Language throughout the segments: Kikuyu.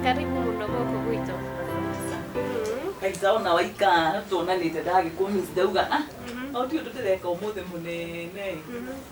karibu muno gũkũ gwitũ aicaona waika tuonanite ndagikumici ndauga ah o ti undu ndireka umuthi munene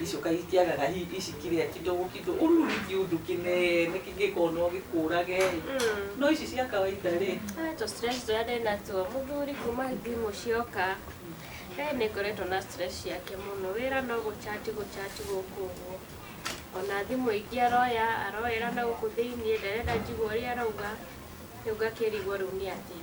Icoka itiagaga hi- ici kĩrĩa kidogo kidogo ũru nĩ kĩũndũ kĩnene kĩngĩkorwo no gĩkũrage ĩ no ici cia kawaida rĩ Ah, tũ stress tũrĩa ndĩ natuo mũthuri kuma thimũ cioka eh, nĩ ngoretwo na stress yake mũno wĩra no gũchati gũchati gũkũ ũguo ona thimũ ingĩ aroya aroera na gũkũ thĩiniĩ ndarenda njigue ũrĩa arauga rĩu ngakĩrigwo rĩu nĩ atĩa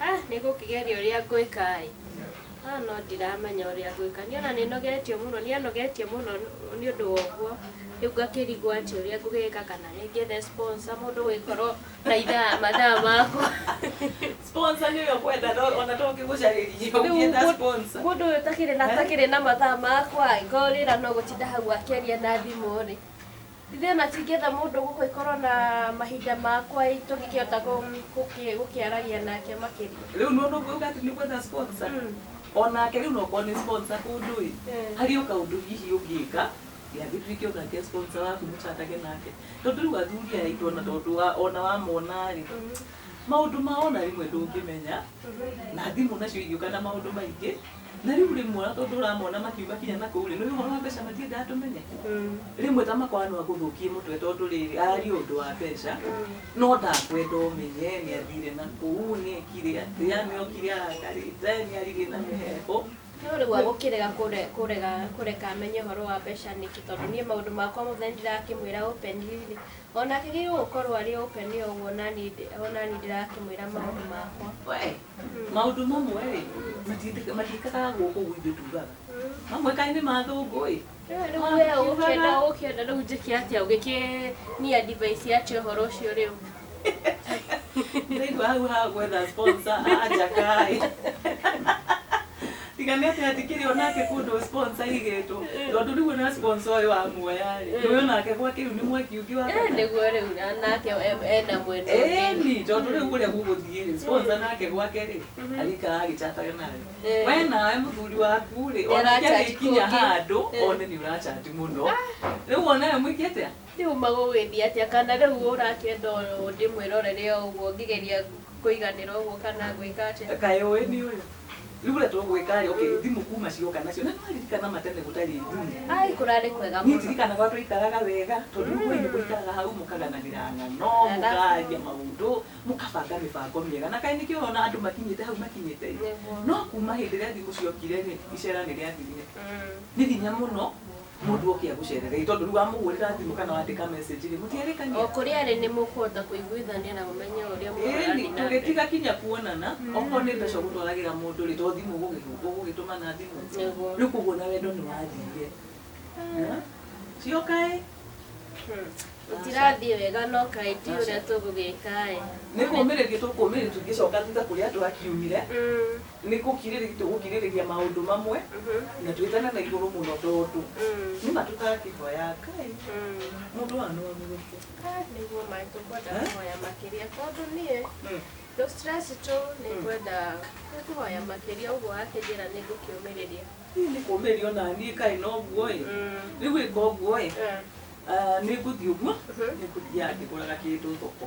Ah, nĩngũkĩgeria ũrĩa ngwĩka-ĩ. Ah, no ndiramenya ũrĩa ngwĩka. Niĩ ona nĩnogetio mũno, nĩanogetie mũno nĩũndũ wa ũguo. Rĩu ngakĩrigwo atĩ ũrĩa ngũgĩka kana nĩ ngĩethe sponsor, mũndũ ũgĩkorwo na ithaa, mathaa makwa. Sponsor nĩwe ũkwenda no ona to ũkĩgũcarĩrie Rĩu ũngĩetha mũ- sponsor. mũndũ ũyũ ũtakĩrĩ na, atakĩrĩ na mathaa makwa-ĩ, korwo wĩra no gũtinda hau akĩaria na thimũ-rĩ, Githĩ o na tingĩetha mũndũ gũkũ akorũo na mahinda ma kwaria, tũngĩkĩhota gũkĩaragia nake makĩria? Rĩu nĩ wona ũguo auga atĩ nĩ gwetha sponsor? O nake rĩu no okorũo nĩ sponsor kũndũ-ĩ, harĩ o kaũndũ hihi ũngĩka, gĩathiĩ rĩngĩ ũgakĩe sponsor waku mũ chat age nake. Tondũ rĩu athuri aya aitũ o na tondũ o na wamona-rĩ, maũndũ mao o na rĩmwe ndũngĩmenya, na thimũ nacio igĩũka na maũndũ maingĩ, Na rĩu rĩmwe ona tondũ ũramona makiuga kinya na kũu rĩ, nĩũĩ ũhoro wa mbeca matiendaga tũmenye. Rĩmwe ta makwa no agũthũkie mũtwe tondũ rĩrĩ, aria ũndũ wa mbeca, no ndakwenda ũmenye nĩathire na kũu, nĩekire atĩa, nĩokire arakarĩte, nĩaririe na mĩheehũ. No rĩu agũkĩrega kũre- kũrega- kũreka amenye ũhoro wa mbeca nĩkĩ? Tondũ niĩ maũndũ makwa mothe nĩndĩrakĩmwĩra openly-rĩ, onake agĩrĩirwo gũkorwo arĩ open o ũguo naniĩ ndĩ- onaniĩ ndĩrakĩmwĩra maũndũ makwa. Wee! Maũndũ mamwe-rĩ, matiĩtĩka- matiĩkaga gũkũ gwitũ tugaga. Mamwe kaĩ nĩ ma thũngũ-ĩ. Rĩu wee ũkĩenda ũkĩenda rĩu njĩke atĩa ũgĩkĩnia device atĩa ũhoro ũcio rĩu Ndĩraigua hau ha gwetha sponsor, anja kaĩ. Tiga nĩ atĩ atikĩrĩ onake kũndũ sponsor igĩtwo. Tondũ rĩu ona sponsor ũyũ wa muoya rĩ. Nĩ onake gwake rĩu nĩ mwaki ũngĩ wa kana. Nĩguo rĩu nake ena mwena ũngĩ. Ĩni tondũ rĩu kũrĩa gũgũthiĩ rĩ sponsor nake gwake rĩ arĩikara agĩchataga nawe. We nawe mũthuri waku rĩ ona angĩkinya handũ one nĩ ũrachanji mũno. Rĩu ona we mwĩke atĩa? Nĩ ũma gũgĩthiĩ atĩa kana rĩu ũrakĩenda o ndĩmwĩrorere o ũguo ngĩgeria kũiganĩra ũguo kana ngwĩka atĩa? Kaĩ ũĩ nĩ ũyũ? Rĩu ũrĩa tũgwĩka rĩ, okay, thimũ kuma cioka nacio, na nĩ waririkana ma tene gũtarĩ thimũ. Ai kũrarĩ kwega Niĩ mũno. ndirikanaga ũrĩa twaikaraga wega, tondũ rĩu ũĩ nĩ mũikaraga hau mũkaganagĩra ng'ano, Ng'ano. mũkaria maũndũ, mũkabanga mĩbango mĩega. Na kaĩ nĩkĩo ũrona andũ makinyĩte hau makinyĩte ĩ. Nĩguo. No kuma hĩndĩ ĩrĩa thimũ ciokire rĩ, icera nĩ rĩathirire. Nĩ hinya mũno Mũndũ oke agũcerere ĩ, tondũ rĩu wamũhũrĩra thimũ kana wandĩka message rĩ, mũtiarĩkania. O kũrĩa arĩ nĩ mũkũhota kũiguithania na ũmenye ũrĩa Ĩni, mũrathiĩ na mbere. tũgĩtiga kinya kuonana, okorwo nĩ mbeca ũgũtwaragĩra mũndũ rĩ, to thimũ ũgũgĩ- ũgũgĩtũma na thimũ. Nĩguo. Rĩu koguo ona wendo nĩ wathirire. Eh? Cioka ĩ, Hmm. Gũtirathiĩ wega no kaĩ ndiũĩ ũrĩa tũgũgĩka ĩ. nĩ kũmĩrĩria tũkũmĩrĩria tũngĩcoka thutha kũrĩa twakiumire. Hmm. Nĩ gũkirĩrĩria tũgũkirĩrĩria maũndũ mamwe na twĩtane na igũrũ mũno tondũ nĩma tũtangĩhoya Ngai mũndũ wanũ amũgũthe. Kaa nĩguo maĩ tũkwenda kũhoya makĩria tondũ niĩ tũ stress tũ nĩngwenda kũhoya makĩria ũguo wakĩnjĩra nĩngũkĩũmĩrĩria. Ii nĩ kũmĩria onaniĩ kaĩ noguo ĩ rĩu ĩka ũguo ĩ nĩngũthiĩ ũguo nĩngũthiaga ngĩgũraga kĩndũ thoko.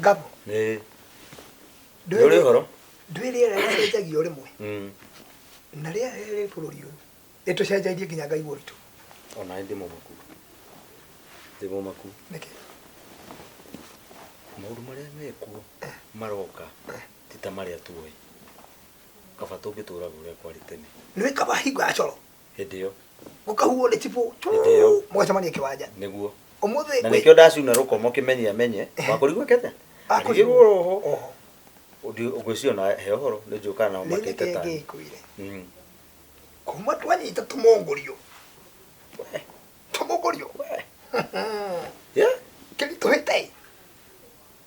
ngabo Nĩ- nĩ ũrĩ ũhoro ndwĩ rĩera rĩcenjagia o rĩmwe Mm. na rĩera rĩrĩa rĩ bũrũri ũyũ rĩtũcenjairie nginya ngai ũritũ ona ndĩ mũmaku ndĩ mũmaku nĩkĩ maũndũ marĩa mekuo maroka ti ta marĩa tuoĩ kaba tũngĩtũraga ũrĩa kwarĩ tene nĩ kaba hingo ya coro hĩndĩ ĩyo mũkahuo nĩ tibũ Hĩndĩ ĩyo. mũgacemania kĩwanja nĩguo ũmũthĩ na nĩkĩo ndacuna rũkomo kĩmenye amenye wakũrigwo kete akũrigwo roho oho ngwĩciria na he ũhoro nĩ njũkaga nao nĩ matĩte nĩkĩ ta ngĩkwĩre Mm. kuma twanyita tũmongũrio tũmongũrio Yeah. kĩritũhĩte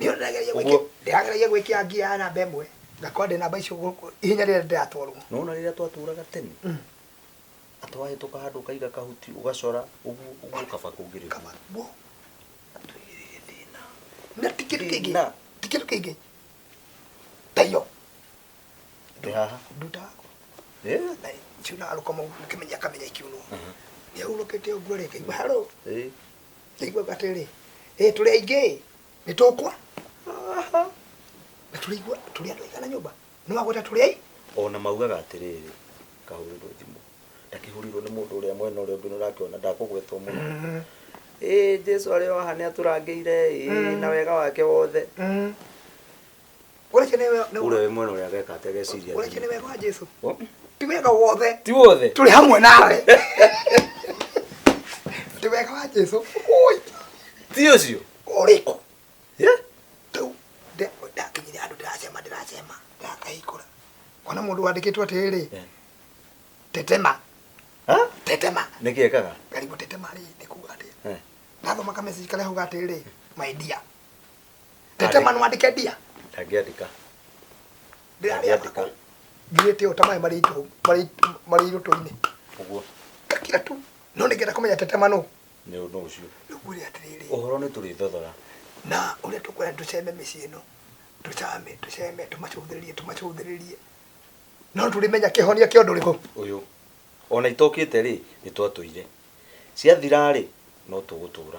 Nĩ ũndũ ndageria gwĩkia- Ũguo. ndĩrageria gwĩkia ngia ya namba ĩmwe ngakorwo ndĩ namba icio gũkũ ihenya rĩrĩa ndĩratwarwo nona rĩrĩa twaturaga tene atĩ wahĩtũka handũ ũkaiga kahuti ũgacora ũguo ũguo ũkaba kũngĩrĩria kaba guo atwĩgĩrĩire thĩna na ti kĩndũ kĩngĩ Thĩna. ti kĩndũ kĩngĩ tayo ndĩ haha nduta yakwa Eh, na ciunaga rũkomo ũkĩmenya akamenya ikiunwo nĩahurũkĩte ũguo rĩ ngaigua haro eh, ndaiguaga atĩrĩ ĩ tũrĩ aingĩ nĩ tũkwa Aha. na tũrĩigua tũrĩ andũ aigana nyũmba nĩ wagweta tũrĩ ai ona maugaga atĩrĩrĩ kahũrĩrwo thimũ ndakĩhũrĩirwo nĩ mũndũ ũrĩa mwena ũrĩa ũngĩ nũrakĩona ndakũgwetwo mũno ĩ jesu arĩ o haha nĩ atũrangĩire ĩ na wega wake wothe Ũreke nĩ we- nĩ- ũrĩa wĩ mwena ũrĩa ageka ategeciria ũreke nĩ wega wa Jesu. Oh. Ti wega wothe. ti wothe Tũrĩ hamwe nawe. Ti wega wa Jesu. Ui, ti ũcio Ũrĩkũ. Yeah. Rĩu nda- ndakinyire andũ ndĩracema ndĩracema ndakahingũra. Ona mũndũ wandĩkĩtwo atĩrĩ. Yeah. Tetema. Ha? Tetema. nĩkĩ ekaga Karibu tetema rĩ nĩ kuuga atĩ. Eh. Nathomaga message karĩa hauga atĩrĩ. My dear. Ndete manu wandike ndia. Ndangĩandĩka. Ndĩrarĩa Ndangĩandĩka. ngirĩte ũta maĩ marĩ itũ marĩ marĩ irũtũ-inĩ. Ũguo. Ngakira tu. No nĩngĩenda kũmenya tete manu. Nĩ ũndũ ũcio. Rĩu ngwĩre atĩrĩrĩ. Ũhoro nĩ tũrĩthothora. Na ũrĩa tũkwenda tũceme mĩciĩ ĩno. Tũcame, tũceme, tũmacũthĩrĩrie, tũmacũthĩrĩrie. No tũrĩmenya kĩhonia kĩa ũndũ ũrĩkũ. Ũyũ. Ona itokĩte rĩ, nĩ twatũire. Ciathira rĩ, no tũgũtũra.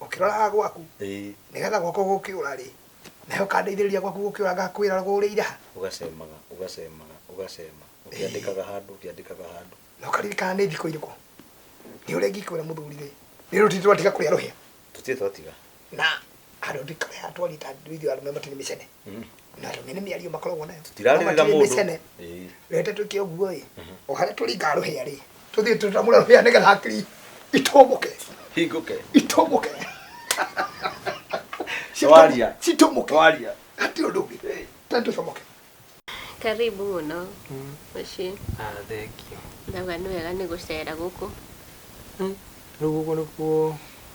ũkĩroraga gwaku ĩĩ nĩgetha gwakwa gũkĩũra rĩ nawe ũkandeithĩrĩria gwaku gũkĩũra ngakwĩra rũgũrĩire ha ũgacemaga ũgacemaga ũgacema ũkĩandĩkaga handũ ũkĩandĩkaga handũ na ũkaririkana nĩ thikũ irĩkũ nĩ ũrĩa ingĩkwĩra mũthuri rĩ nĩ rĩu titũ twatiga kũrĩa rũhĩa tũtirĩ twatiga na andũ ndikare atwarita ithuĩ arũme matirĩ mĩcene na rĩu nĩ mĩario makoragwo nayo tirarĩrĩra Matirĩ mũndũ mĩcene. Ĩĩ. rete twĩke ũguo ĩ o harĩa tũringa rũhĩa rĩ tũthiĩ tũtamũre rũhĩa nĩgetha hakiri itũmũke hingũke itũmũke Waria. citũmũke waria hati ũndũ ũngĩ tani tũcomoke Karibu mũno mũciĩ. Ah, thank you. Ndauga nĩ wega nĩ gũcera gũkũ. Rĩu gũkũ nĩkuo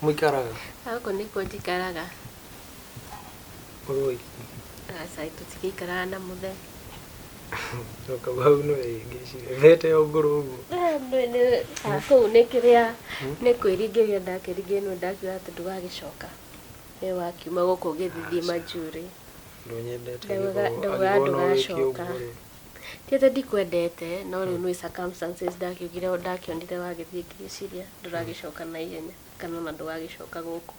mũikaraga? Gũkũ nĩkuo njikaraga. Ũrĩ o iki? Aca tũtigĩikaraga na mũthe. Coka hau nĩ wĩhĩngĩcire. Thĩ ĩte o ngũrũ ũguo. Kũu nĩ kĩrĩa nĩ kwĩringĩria ndakĩringĩria nĩ ndakiuga atĩ ndũgagĩcoka. Nĩ wakiuma gũkũ ũgĩthithima njuĩrĩ. Ndũnyendete. Ndaugaga ndũgacoka. Ti atĩ ndikwendete no rĩu nĩ circumstances ndakiugire ndakĩonire wagĩthiĩ ngĩciria ndũragĩcoka na ihenya kana ona ndũgagĩcoka gũkũ.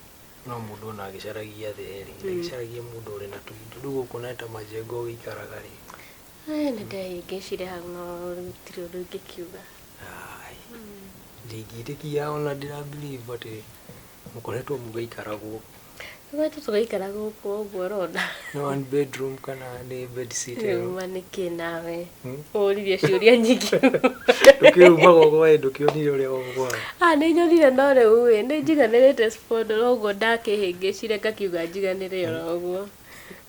No mũndũ ona agĩcaragia thĩ rĩ, ndagĩcaragia mũndũ ũrĩ na tũindo. Rĩu gũkũ na ta majengo ũgĩikaraga rĩ. Ĩĩ nĩ ndehĩngĩcire hau no rĩu gũtirĩ ũndũ ingĩkiuga. Ndingĩtĩkia ona ndĩra believe atĩ. Mũkoretwo mũgĩikara gũkũ. Tũkoretwo tũgĩikara gũkũ ũguo ũrona. Nĩ one bedroom kana nĩ bed sit ĩyo? Rĩu ma nĩkĩ nawe? Hmm? Ũririe ciũria nyingĩ. Ndũkĩumaga ũguo ĩ ndũkĩonire ũrĩa ũguo. Ah nĩ nyonire no rĩu ĩ nĩ njiganĩrĩte spondoro ũguo ndakĩhĩngĩcire ngakiuga njiganĩre oro ũguo.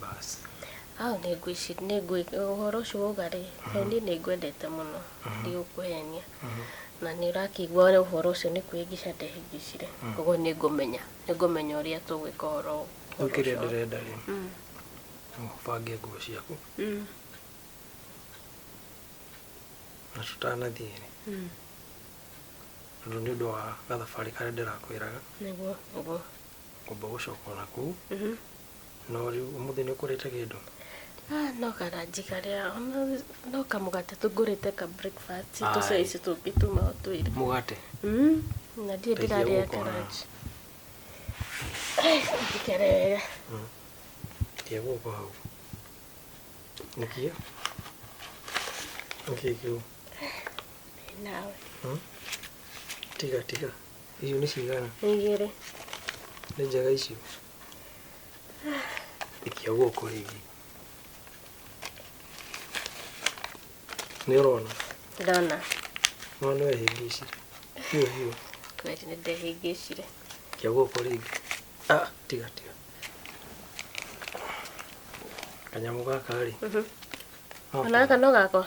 Basi. Au nĩngwĩci- nĩngwĩ- ũhoro ũcio wauga-rĩ, tondũ niĩ nĩngwendete mũno, ndigũkũhenia, na nĩũrakĩigua ũhoro ũcio nĩkũhĩngĩca ndehĩngĩcire, kuoguo nĩngũmenya, nĩngũmenya ũrĩa tũgwĩka ũhoro Rĩu kĩrĩa ũcio. ndĩrenda-rĩ, Mm, ũbange nguo ciaku, mm, na tũtanathiĩ-rĩ, mm, tondũ nĩũndũ wa gathabarĩ karĩa ndĩrakwĩraga, nĩguo, nĩguo. ngomba gũcoka na kuu no rĩu ũmũthĩ nĩ ũkũrĩte kĩndũ Ah, no karanji karĩa ona- no kamũgate tũngũrĩte ka breakfast Aye. tũcai ici tũngĩ tuma o twĩrĩ mũgate Mm, na ndiĩ Teithia ndĩrarĩa gũkũ, ha. karanji ndikere wega tia gũkũ hau nĩkio nĩkio kĩu nawe tiga tiga Icio nĩ cigana? Nĩ igĩrĩ. Nĩ njega icio. Ikia guoko rĩngĩ. Nĩ ũrona? Ndona. No nĩ wehĩngĩcire. Hiũ hiũ. Kweli nĩ ndehĩngĩcire. Ikia guoko rĩngĩ. Ah, tiga tiga. Kanyamũ gaka rĩ. Mhm. Ona gaka no gakwa?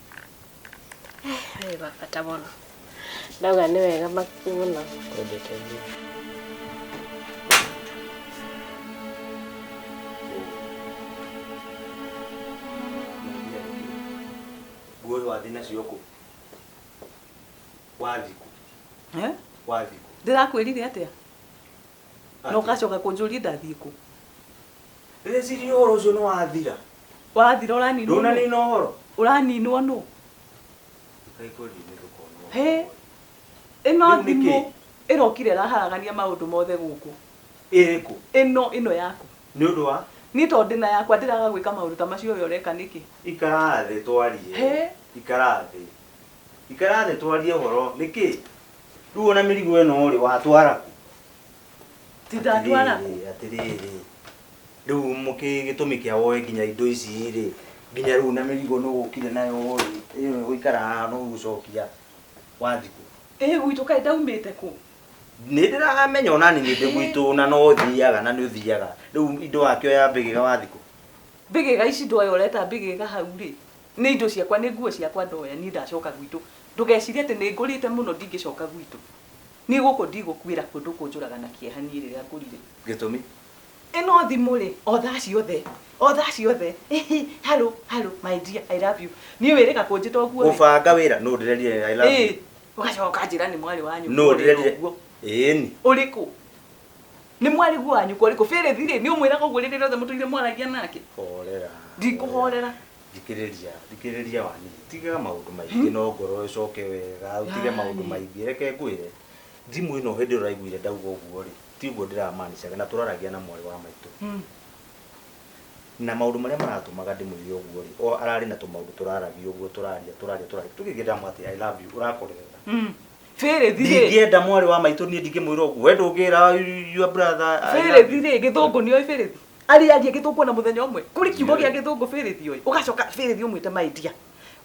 Wĩ wa bata mũno. Ndauga nĩ wega makĩi mũno. Twendete mũno. nguo wathi nacio kũ wathi kũ wathi kũ ndĩrakwĩrire atĩa Na ũgacoka kũnjũria ndathiĩ kũ? Ndĩreciria ũhoro ũcio nĩ wathira. Wathira ũraninwo nũ? Ndũnanina ũhoro. Ũraninwo nũ? Ndũkaikũrinĩ ndũkonwo. Hĩ! Ĩno Rĩu nĩ thimũ kĩĩ? ĩrokire ĩraharagania maũndũ mothe gũkũ. Ĩrĩkũ? Ĩno, ĩno yaku. Nĩ ũndũ wa? Niĩ tondũ ndĩ na yakwa ndĩraga gwĩka maũndũ ta macio we ũreka nĩkĩ? Ikara thĩ twarie. Hĩ! Ikara thĩ. Ikara thĩ twarie ũhoro. Nĩ kĩ? Rĩu ona mĩrigo ĩno-rĩ watwara kũ? Ti ndatwara kũ? Atĩrĩrĩ, atĩrĩrĩ, rĩu mũkĩ gĩtũmi kĩa woe nginya indo ici-rĩ, nginya rĩu na mĩrigo nĩ ũgũkire nayo-rĩ, ĩno ĩgũikara haha na ũgũcokia wathiĩ kũ? Ĩ gwitũ kaĩ ndaumĩte kũ? Nĩ ndĩramenya o na niĩ ndĩ gwitũ na no thiaga na nĩ ũthiaga. Rĩu indo wakĩoya mbĩgĩga wathiĩ kũ? Mbĩgĩga ici ndoya ũreta mbĩgĩga hau-rĩ, Nĩ indo ciakwa, nĩ nguo ciakwa ndoya, niĩ ndacoka gwitũ. Ndũgecirie atĩ nĩ ngũrĩte mũno ndingĩcoka gwitũ. Niĩ gũkũ ndigũkuĩra kuo ndũkũnjũraga na kĩeha niĩ rĩrĩa ngũrire. Gĩtũmi? Ĩno thimũ-rĩ, o thaa ciothe, o thaa ciothe, ĩhĩ, hallo, hallo, my dear, I love you. Niĩ wĩrĩga kũnjĩta ũguo-rĩ. Gũbanga wĩra nũ ũndĩrerire I love you? Ĩĩ, ũgacoka ũkanjĩra nĩ mwarĩ wa nyũkwa ũrĩra ũguo. Ĩĩni. Ũrĩkũ? Nĩ mwarĩguo wa nyũkwa ũrĩkũ? Bĩrĩthi-rĩ, nĩ ũmwĩraga ũguo rĩrĩa rĩothe mũtũire mwaragia nake? Horera. Ndikũhorera. thikĩrĩria thikĩrĩria wani tiga maũndũ maingĩ no ngoro ĩcoke wega utige maũndũ maingĩ reke ngwĩre thimũ ĩno hĩndĩ ũraiguire ndauga ũguo rĩ tiguo ndĩramanicaga na tũraragia na mwarĩ wa maitũ na maũndũ marĩa maratũmaga ndĩmwĩre ũguo rĩ o ararĩ na tũmaũndũ tũraragia ũguo tũraria tũraria tũraria tũkĩgĩta mwa atĩ i love you ũrakorerera ndingĩenda mwarĩ wa maitũ niĩ ndingĩmwĩra ũguo we ndũngĩra your brother I love you. bĩrĩthi rĩ gĩthũngũ nĩoĩ bĩrĩthi arĩ aria gĩthũngũ na mũthenya ũmwe kũrĩ kiugo gĩa gĩthũngũ bĩrĩthi ũyũ ũgacoka bĩrĩthi ũmwĩte my dear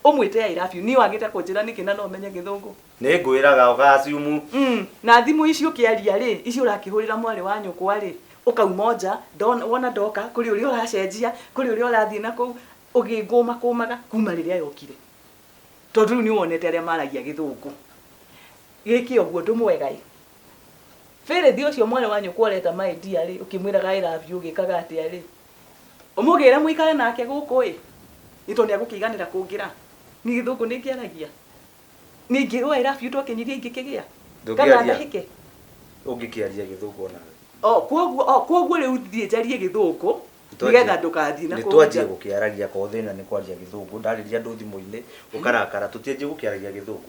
ũmwĩte I love you niĩ wagĩte kũnjĩra nĩkĩ na no menye gĩthũngũ nĩ ngwĩraga ũgaciumu Mm, na thimũ ici ũkĩaria rĩ ici ũrakĩhũrĩra mwarĩ wa nyũkwa rĩ ũkauma nja ndona- wona ndoka kũrĩ ũrĩa ũracenjia kũrĩ ũrĩa ũrathiĩ na kũu ũgĩngũma kũmaga kuma rĩrĩa yokire tondũ rĩu nĩ wonete arĩa maragia gĩthũngũ gĩkĩ ũguo ndũmwega ĩ Fĩrĩthi ũcio mwarĩ wa nyũkwa ũreta my dear-rĩ, ũkĩmwĩraga I love you ũgĩkaga atĩa-rĩ? Ũmũgĩre mũikare nake gũkũ-ĩ, nĩ tondũ nĩagũkĩiganĩra kũngĩra. Niĩ gĩthũngũ nĩngĩaragia? Niĩ ingĩrwo I love you twakenyirie ingĩkĩgĩa? Kana ndahĩke? Ũngĩkĩaria gĩthũngũ o nawe? Oh, kuoguo, oh, kuoguo rĩu thiĩ njarie gĩthũngũ nĩgetha ndũgathiĩ na kũu nja. Nĩtwanjia gũkĩaragia korwo thĩna nĩ kwaria gĩthũngũ, ndarĩria andũ thimũ-inĩ ũkarakara. Tũtianjia gũkĩaragia gĩthũngũ?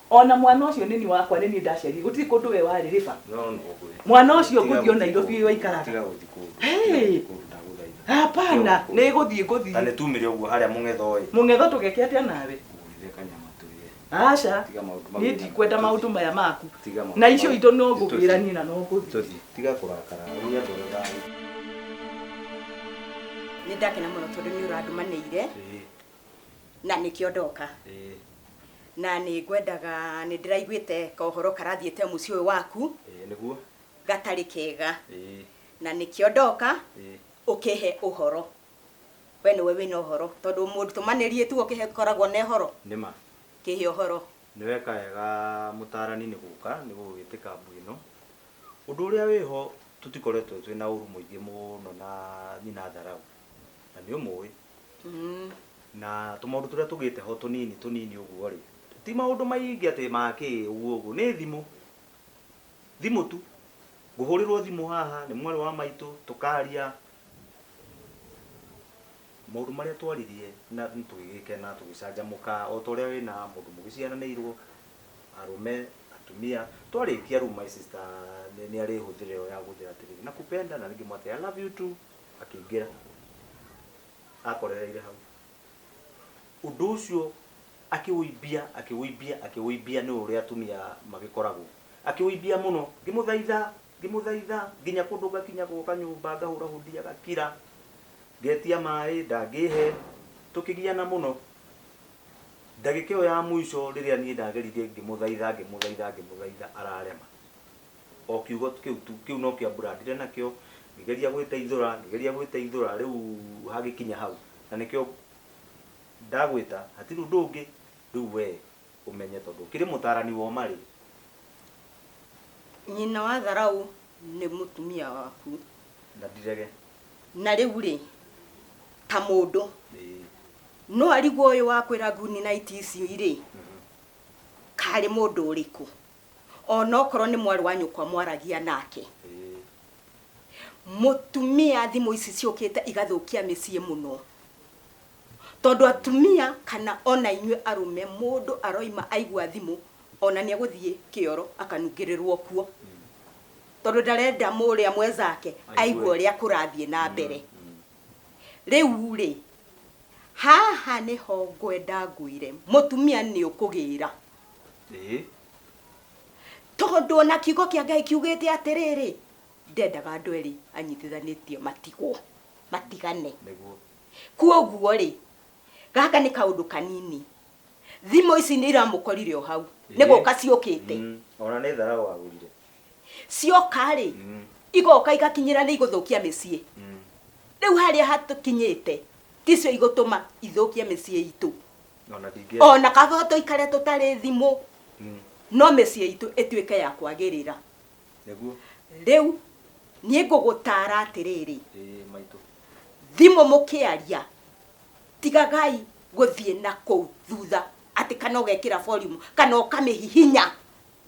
O na mwana ũcio nĩ niĩ wakwa, nĩ niĩ ndaciarire, gũtirĩ kũndũ we warĩ, Riva. Mwana ũcio ngũthiĩ o Nairobi waikaraga. Hey! Hapana, nĩ gũthiĩ ngũthiĩ. Na nĩtumire ũguo harĩa mũng'etho ĩ. Mũng'etho tũgeke atĩa nawe? Ngũrugĩre kanyama tũrĩe. Aca, Tiga maũndũ mau niĩ wĩna- ndikwenda maũndũ maya maku. Tiga maũndũ Na icio mau. itũ no Nĩ tũthiĩ. ngũgĩra niĩ na no ngũthiĩ. Tũthiĩ. Tiga kũrakara. Nĩ andũ arĩa thayũ. nĩ ndakena mũno tondũ nĩ ũrandũmanĩire na nĩkĩo ndoka ĩĩ na nĩ ngwendaga nĩ ndĩraiguĩte kohoro karathiĩte mũciĩ ũyũ waku ĩĩ nĩguo gatarĩ kega ĩĩ na nĩkĩo ndoka ĩĩ ũkĩhe ũhoro we nĩwe wĩna ũhoro tondũ mũndũ tũmanĩrie tu ũkĩhe koragwo na ũhoro nĩma kĩhe ũhoro nĩ weka wega mũtaarani nĩ gũka nĩ gũgĩtĩ kambu ĩno ũndũ ũrĩa wĩho tũtikoretwo twĩ na ũru mũingĩ mũno na nyina tharau na nĩ ũmũĩ na tũmaũndũ tũrĩa tũgĩte ho tũnini tũnini ũguo rĩ ti maũndũ maingĩ atĩ makĩ ũguo ũguo nĩ thimũ thimũ tu ngũhũrĩrwo thimũ haha nĩ mwarĩ wa maitũ tũkaria maũndũ marĩa twaririe na tũgĩgĩkena tũgĩcanjamũka o ta ũrĩa wĩna mũndũ mũgĩciaranĩirwo arũme atumia twarĩkia rĩu my sister nĩ arĩ hũthĩra ĩyo ya gũthĩra atĩrĩrĩ nakupenda na rĩngĩ mwatĩ I love you too akĩingĩra akorereire hau ũndũ ũcio akĩwĩimbia akĩwĩimbia akĩwĩimbia nĩ ũrĩa atumia magĩkoragwo akĩwĩimbia mũno ngĩmũthaitha ngĩmũthaitha nginya kũndũ ngakinya gwoka nyũmba ngahũra hũndi agakira ngetia maĩ ndangĩhe tũkĩgiana mũno ndagĩka ĩyo ya mũico rĩrĩa niĩ ndageririe ngĩmũthaitha ngĩmũthaitha ngĩmũthaitha ararema O kiugo kĩu tu, kĩu nokĩo ambrandire nakĩo, ngĩgeria gwĩteithũra, ngĩgeria gwĩteithũra, rĩu hagĩkinya hau, na nĩkĩo ndagwĩta, hatirĩ ũndũ ũngĩ, rĩu wee ũmenye tondũ ũkĩrĩ mũtarani wa ũma rĩ. Nyina wa tharaũ nĩ mũtumia waku. Na ndirege. Na rĩu rĩ, ta mũndũ. Ĩĩ. No arigwo ũyũ wakwĩra Gunnites ici rĩ, karĩ mũndũ ũrĩkũ? ona okorwo nĩ mwarĩ wa nyũkwa mwaragia nake mũtumia thimũ ici ciũkĩte igathũkia mĩciĩ mũno tondũ atumia kana ona inyuĩ arũme mũndũ aroima aigua thimũ ona nĩ egũthiĩ kĩoro akanungĩrĩrwo kuo tondũ ndarenda mũrĩa mwenzake aigua ũrĩa kũrathiĩ na mbere rĩu rĩ haha nĩho ngwenda ngwĩre mũtumia nĩ ũkũgĩra ĩĩ tondũ ona kiugo kĩa ngai kiugĩte atĩrĩrĩ ndendaga andũ erĩ anyitithanĩtie matigwo matigane nĩguo kuoguo rĩ gaka nĩ kaũndũ kanini thimũ ici nĩ iramũkorire o hau nĩ gũka ciũkĩte Mm, ona nĩ tharau agũrire cioka rĩ Mm, igoka igakinyĩra nĩ igũthũkia mĩciĩ mm. rĩu harĩa hatukinyĩte ticio igũtũma ithũkie mĩciĩ itũ ona ndingĩ ona kaba tũikare tũtarĩ thimũ Mm, no mĩciĩ itũ ĩtuĩke ya kwagĩrĩra nĩguo rĩu niĩ ngũgũtara atĩrĩrĩ ĩĩ maitũ thimũ mũkĩaria tigagai gũthiĩ na kũu thutha atĩ kana ũgekĩra volume kana ũkamĩhihinya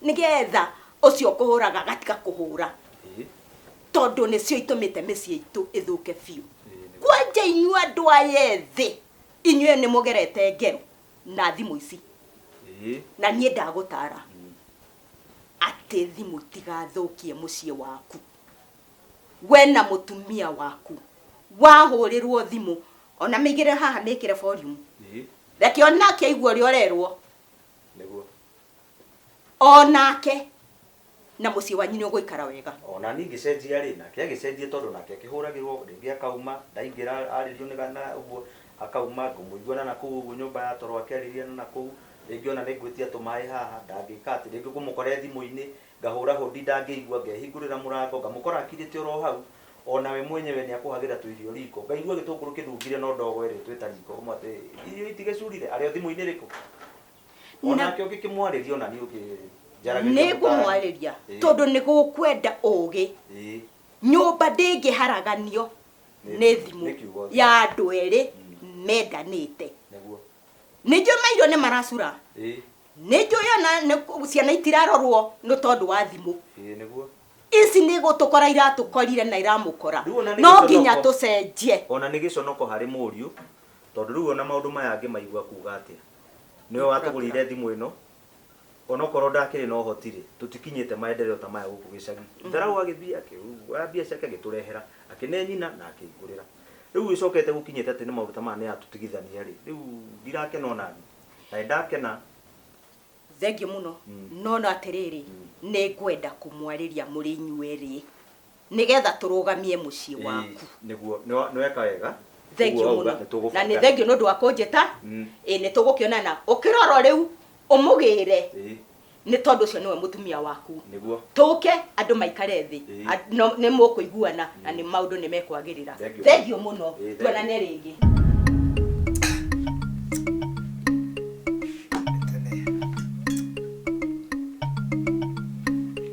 nĩgetha ũcio ũkũhũraga agatiga kũhũra ĩĩ tondũ nĩcio itũmĩte mĩciĩ itũ ĩthũke biũ ĩĩ nĩguo kwanja inyuĩ andũ aya ethĩ inyuĩ nĩ mũgerete ngero na thimũ ici Ĩĩ. na niĩ ndagũtara atĩ thimũ itigathũkie mũciĩ waku we na mũtumia waku wahũrĩrwo thimũ ona mĩigĩre haha mĩkĩre volume Ĩĩ. reke onake aigue ũrĩa ũrerwo Nĩguo. onake na mũciĩ wanyu nĩũgũikara wega. O na niĩ ngĩcenjia-rĩ, nake agĩcenjia tondũ nake akĩhũragĩrwo, rĩngĩ akauma, ndaingĩra arĩrio nĩ ga, na ũguo, akauma, ngũmũigua na na kũu ũguo nyũmba ya toro akĩarĩria na na kũu, rĩngĩ o na nĩngwĩtia tũmaĩ haha, ndangĩka atĩ, rĩngĩ ngũmũkore thimũ-inĩ, ngahũra hũndi ndangĩigua, ngehingũrĩra mũrango, ngamũkora akirĩte o ro hau, o na we mwenyewe nĩakũhagĩra tũirio riko, ngaigua gĩtũngũrũ kĩnungire no ndogo ĩrĩtwo ĩtariko, ũmwe atĩ, irio itigĩcurire? Arĩ o thimũ-inĩ rĩ kũ? o Na- nake ũngĩkĩmwarĩria ona niĩ ũkĩnjaragĩria nĩ ngũmwarĩria Ĩĩ. tondũ nĩ gũkwenda ũũgĩ Ĩĩ. nyũmba ndĩngĩharaganio Nĩ- nĩ thimũ nĩ kiugo. ya andũ erĩ Mm. mendanĩte nĩguo nĩ njũĩ maitho nĩ maracura Ĩĩ. nĩ njũĩ ona nĩ- ciana itirarorwo nĩ tondũ wa thimũ Ĩĩ, nĩguo ici nĩ gũtũkora iratũkorire na iramũkora Rĩu ona nĩ no gĩconoko. nginya tũcenjie ona nĩ gĩconoko harĩ mũriũ tondũ rĩu ona maũndũ maya angĩ maigua kuga atĩa Nĩwe watũgũrĩire thimũ ĩno. Onokorwo ndakĩrĩ na ũhoti-rĩ, tũtikinyĩte maendereo ta maya gũkũ gĩcagi. Tharaũ agĩthiĩ akĩoya mbia ciake agĩtũrehera, akĩne nyina na akĩngũrĩra. Rĩu ĩcokete gũkinyĩte atĩ nĩ maũndũ ta maya nĩatũtigithania-rĩ, rĩu ndirakena o naniĩ. Na nĩndakena. Thengiũ mũno. No no atĩrĩrĩ, nĩngwenda kũmwarĩria mũrĩ inyuerĩ. Nĩgetha tũrũgamie mũciĩ waku. Ĩĩ nĩguo. Nĩweka wega. Thengio mũno. Na nĩ thengio nĩ ũndũ wa kũnjĩta. Ĩĩ nĩ tũgũkĩonana. Na ũkĩrora o rĩu ũmũgĩre. Ĩĩ. Nĩ tondũ ũcio nĩwe mũtumia waku. Nĩguo. Tũke andũ maikare thĩ. Ĩĩ. Nĩ mũkũiguana na nĩ maũndũ nĩ mekwagĩrĩra. Thengio. Thengio mũno. Ĩĩ. Tuonane rĩngĩ.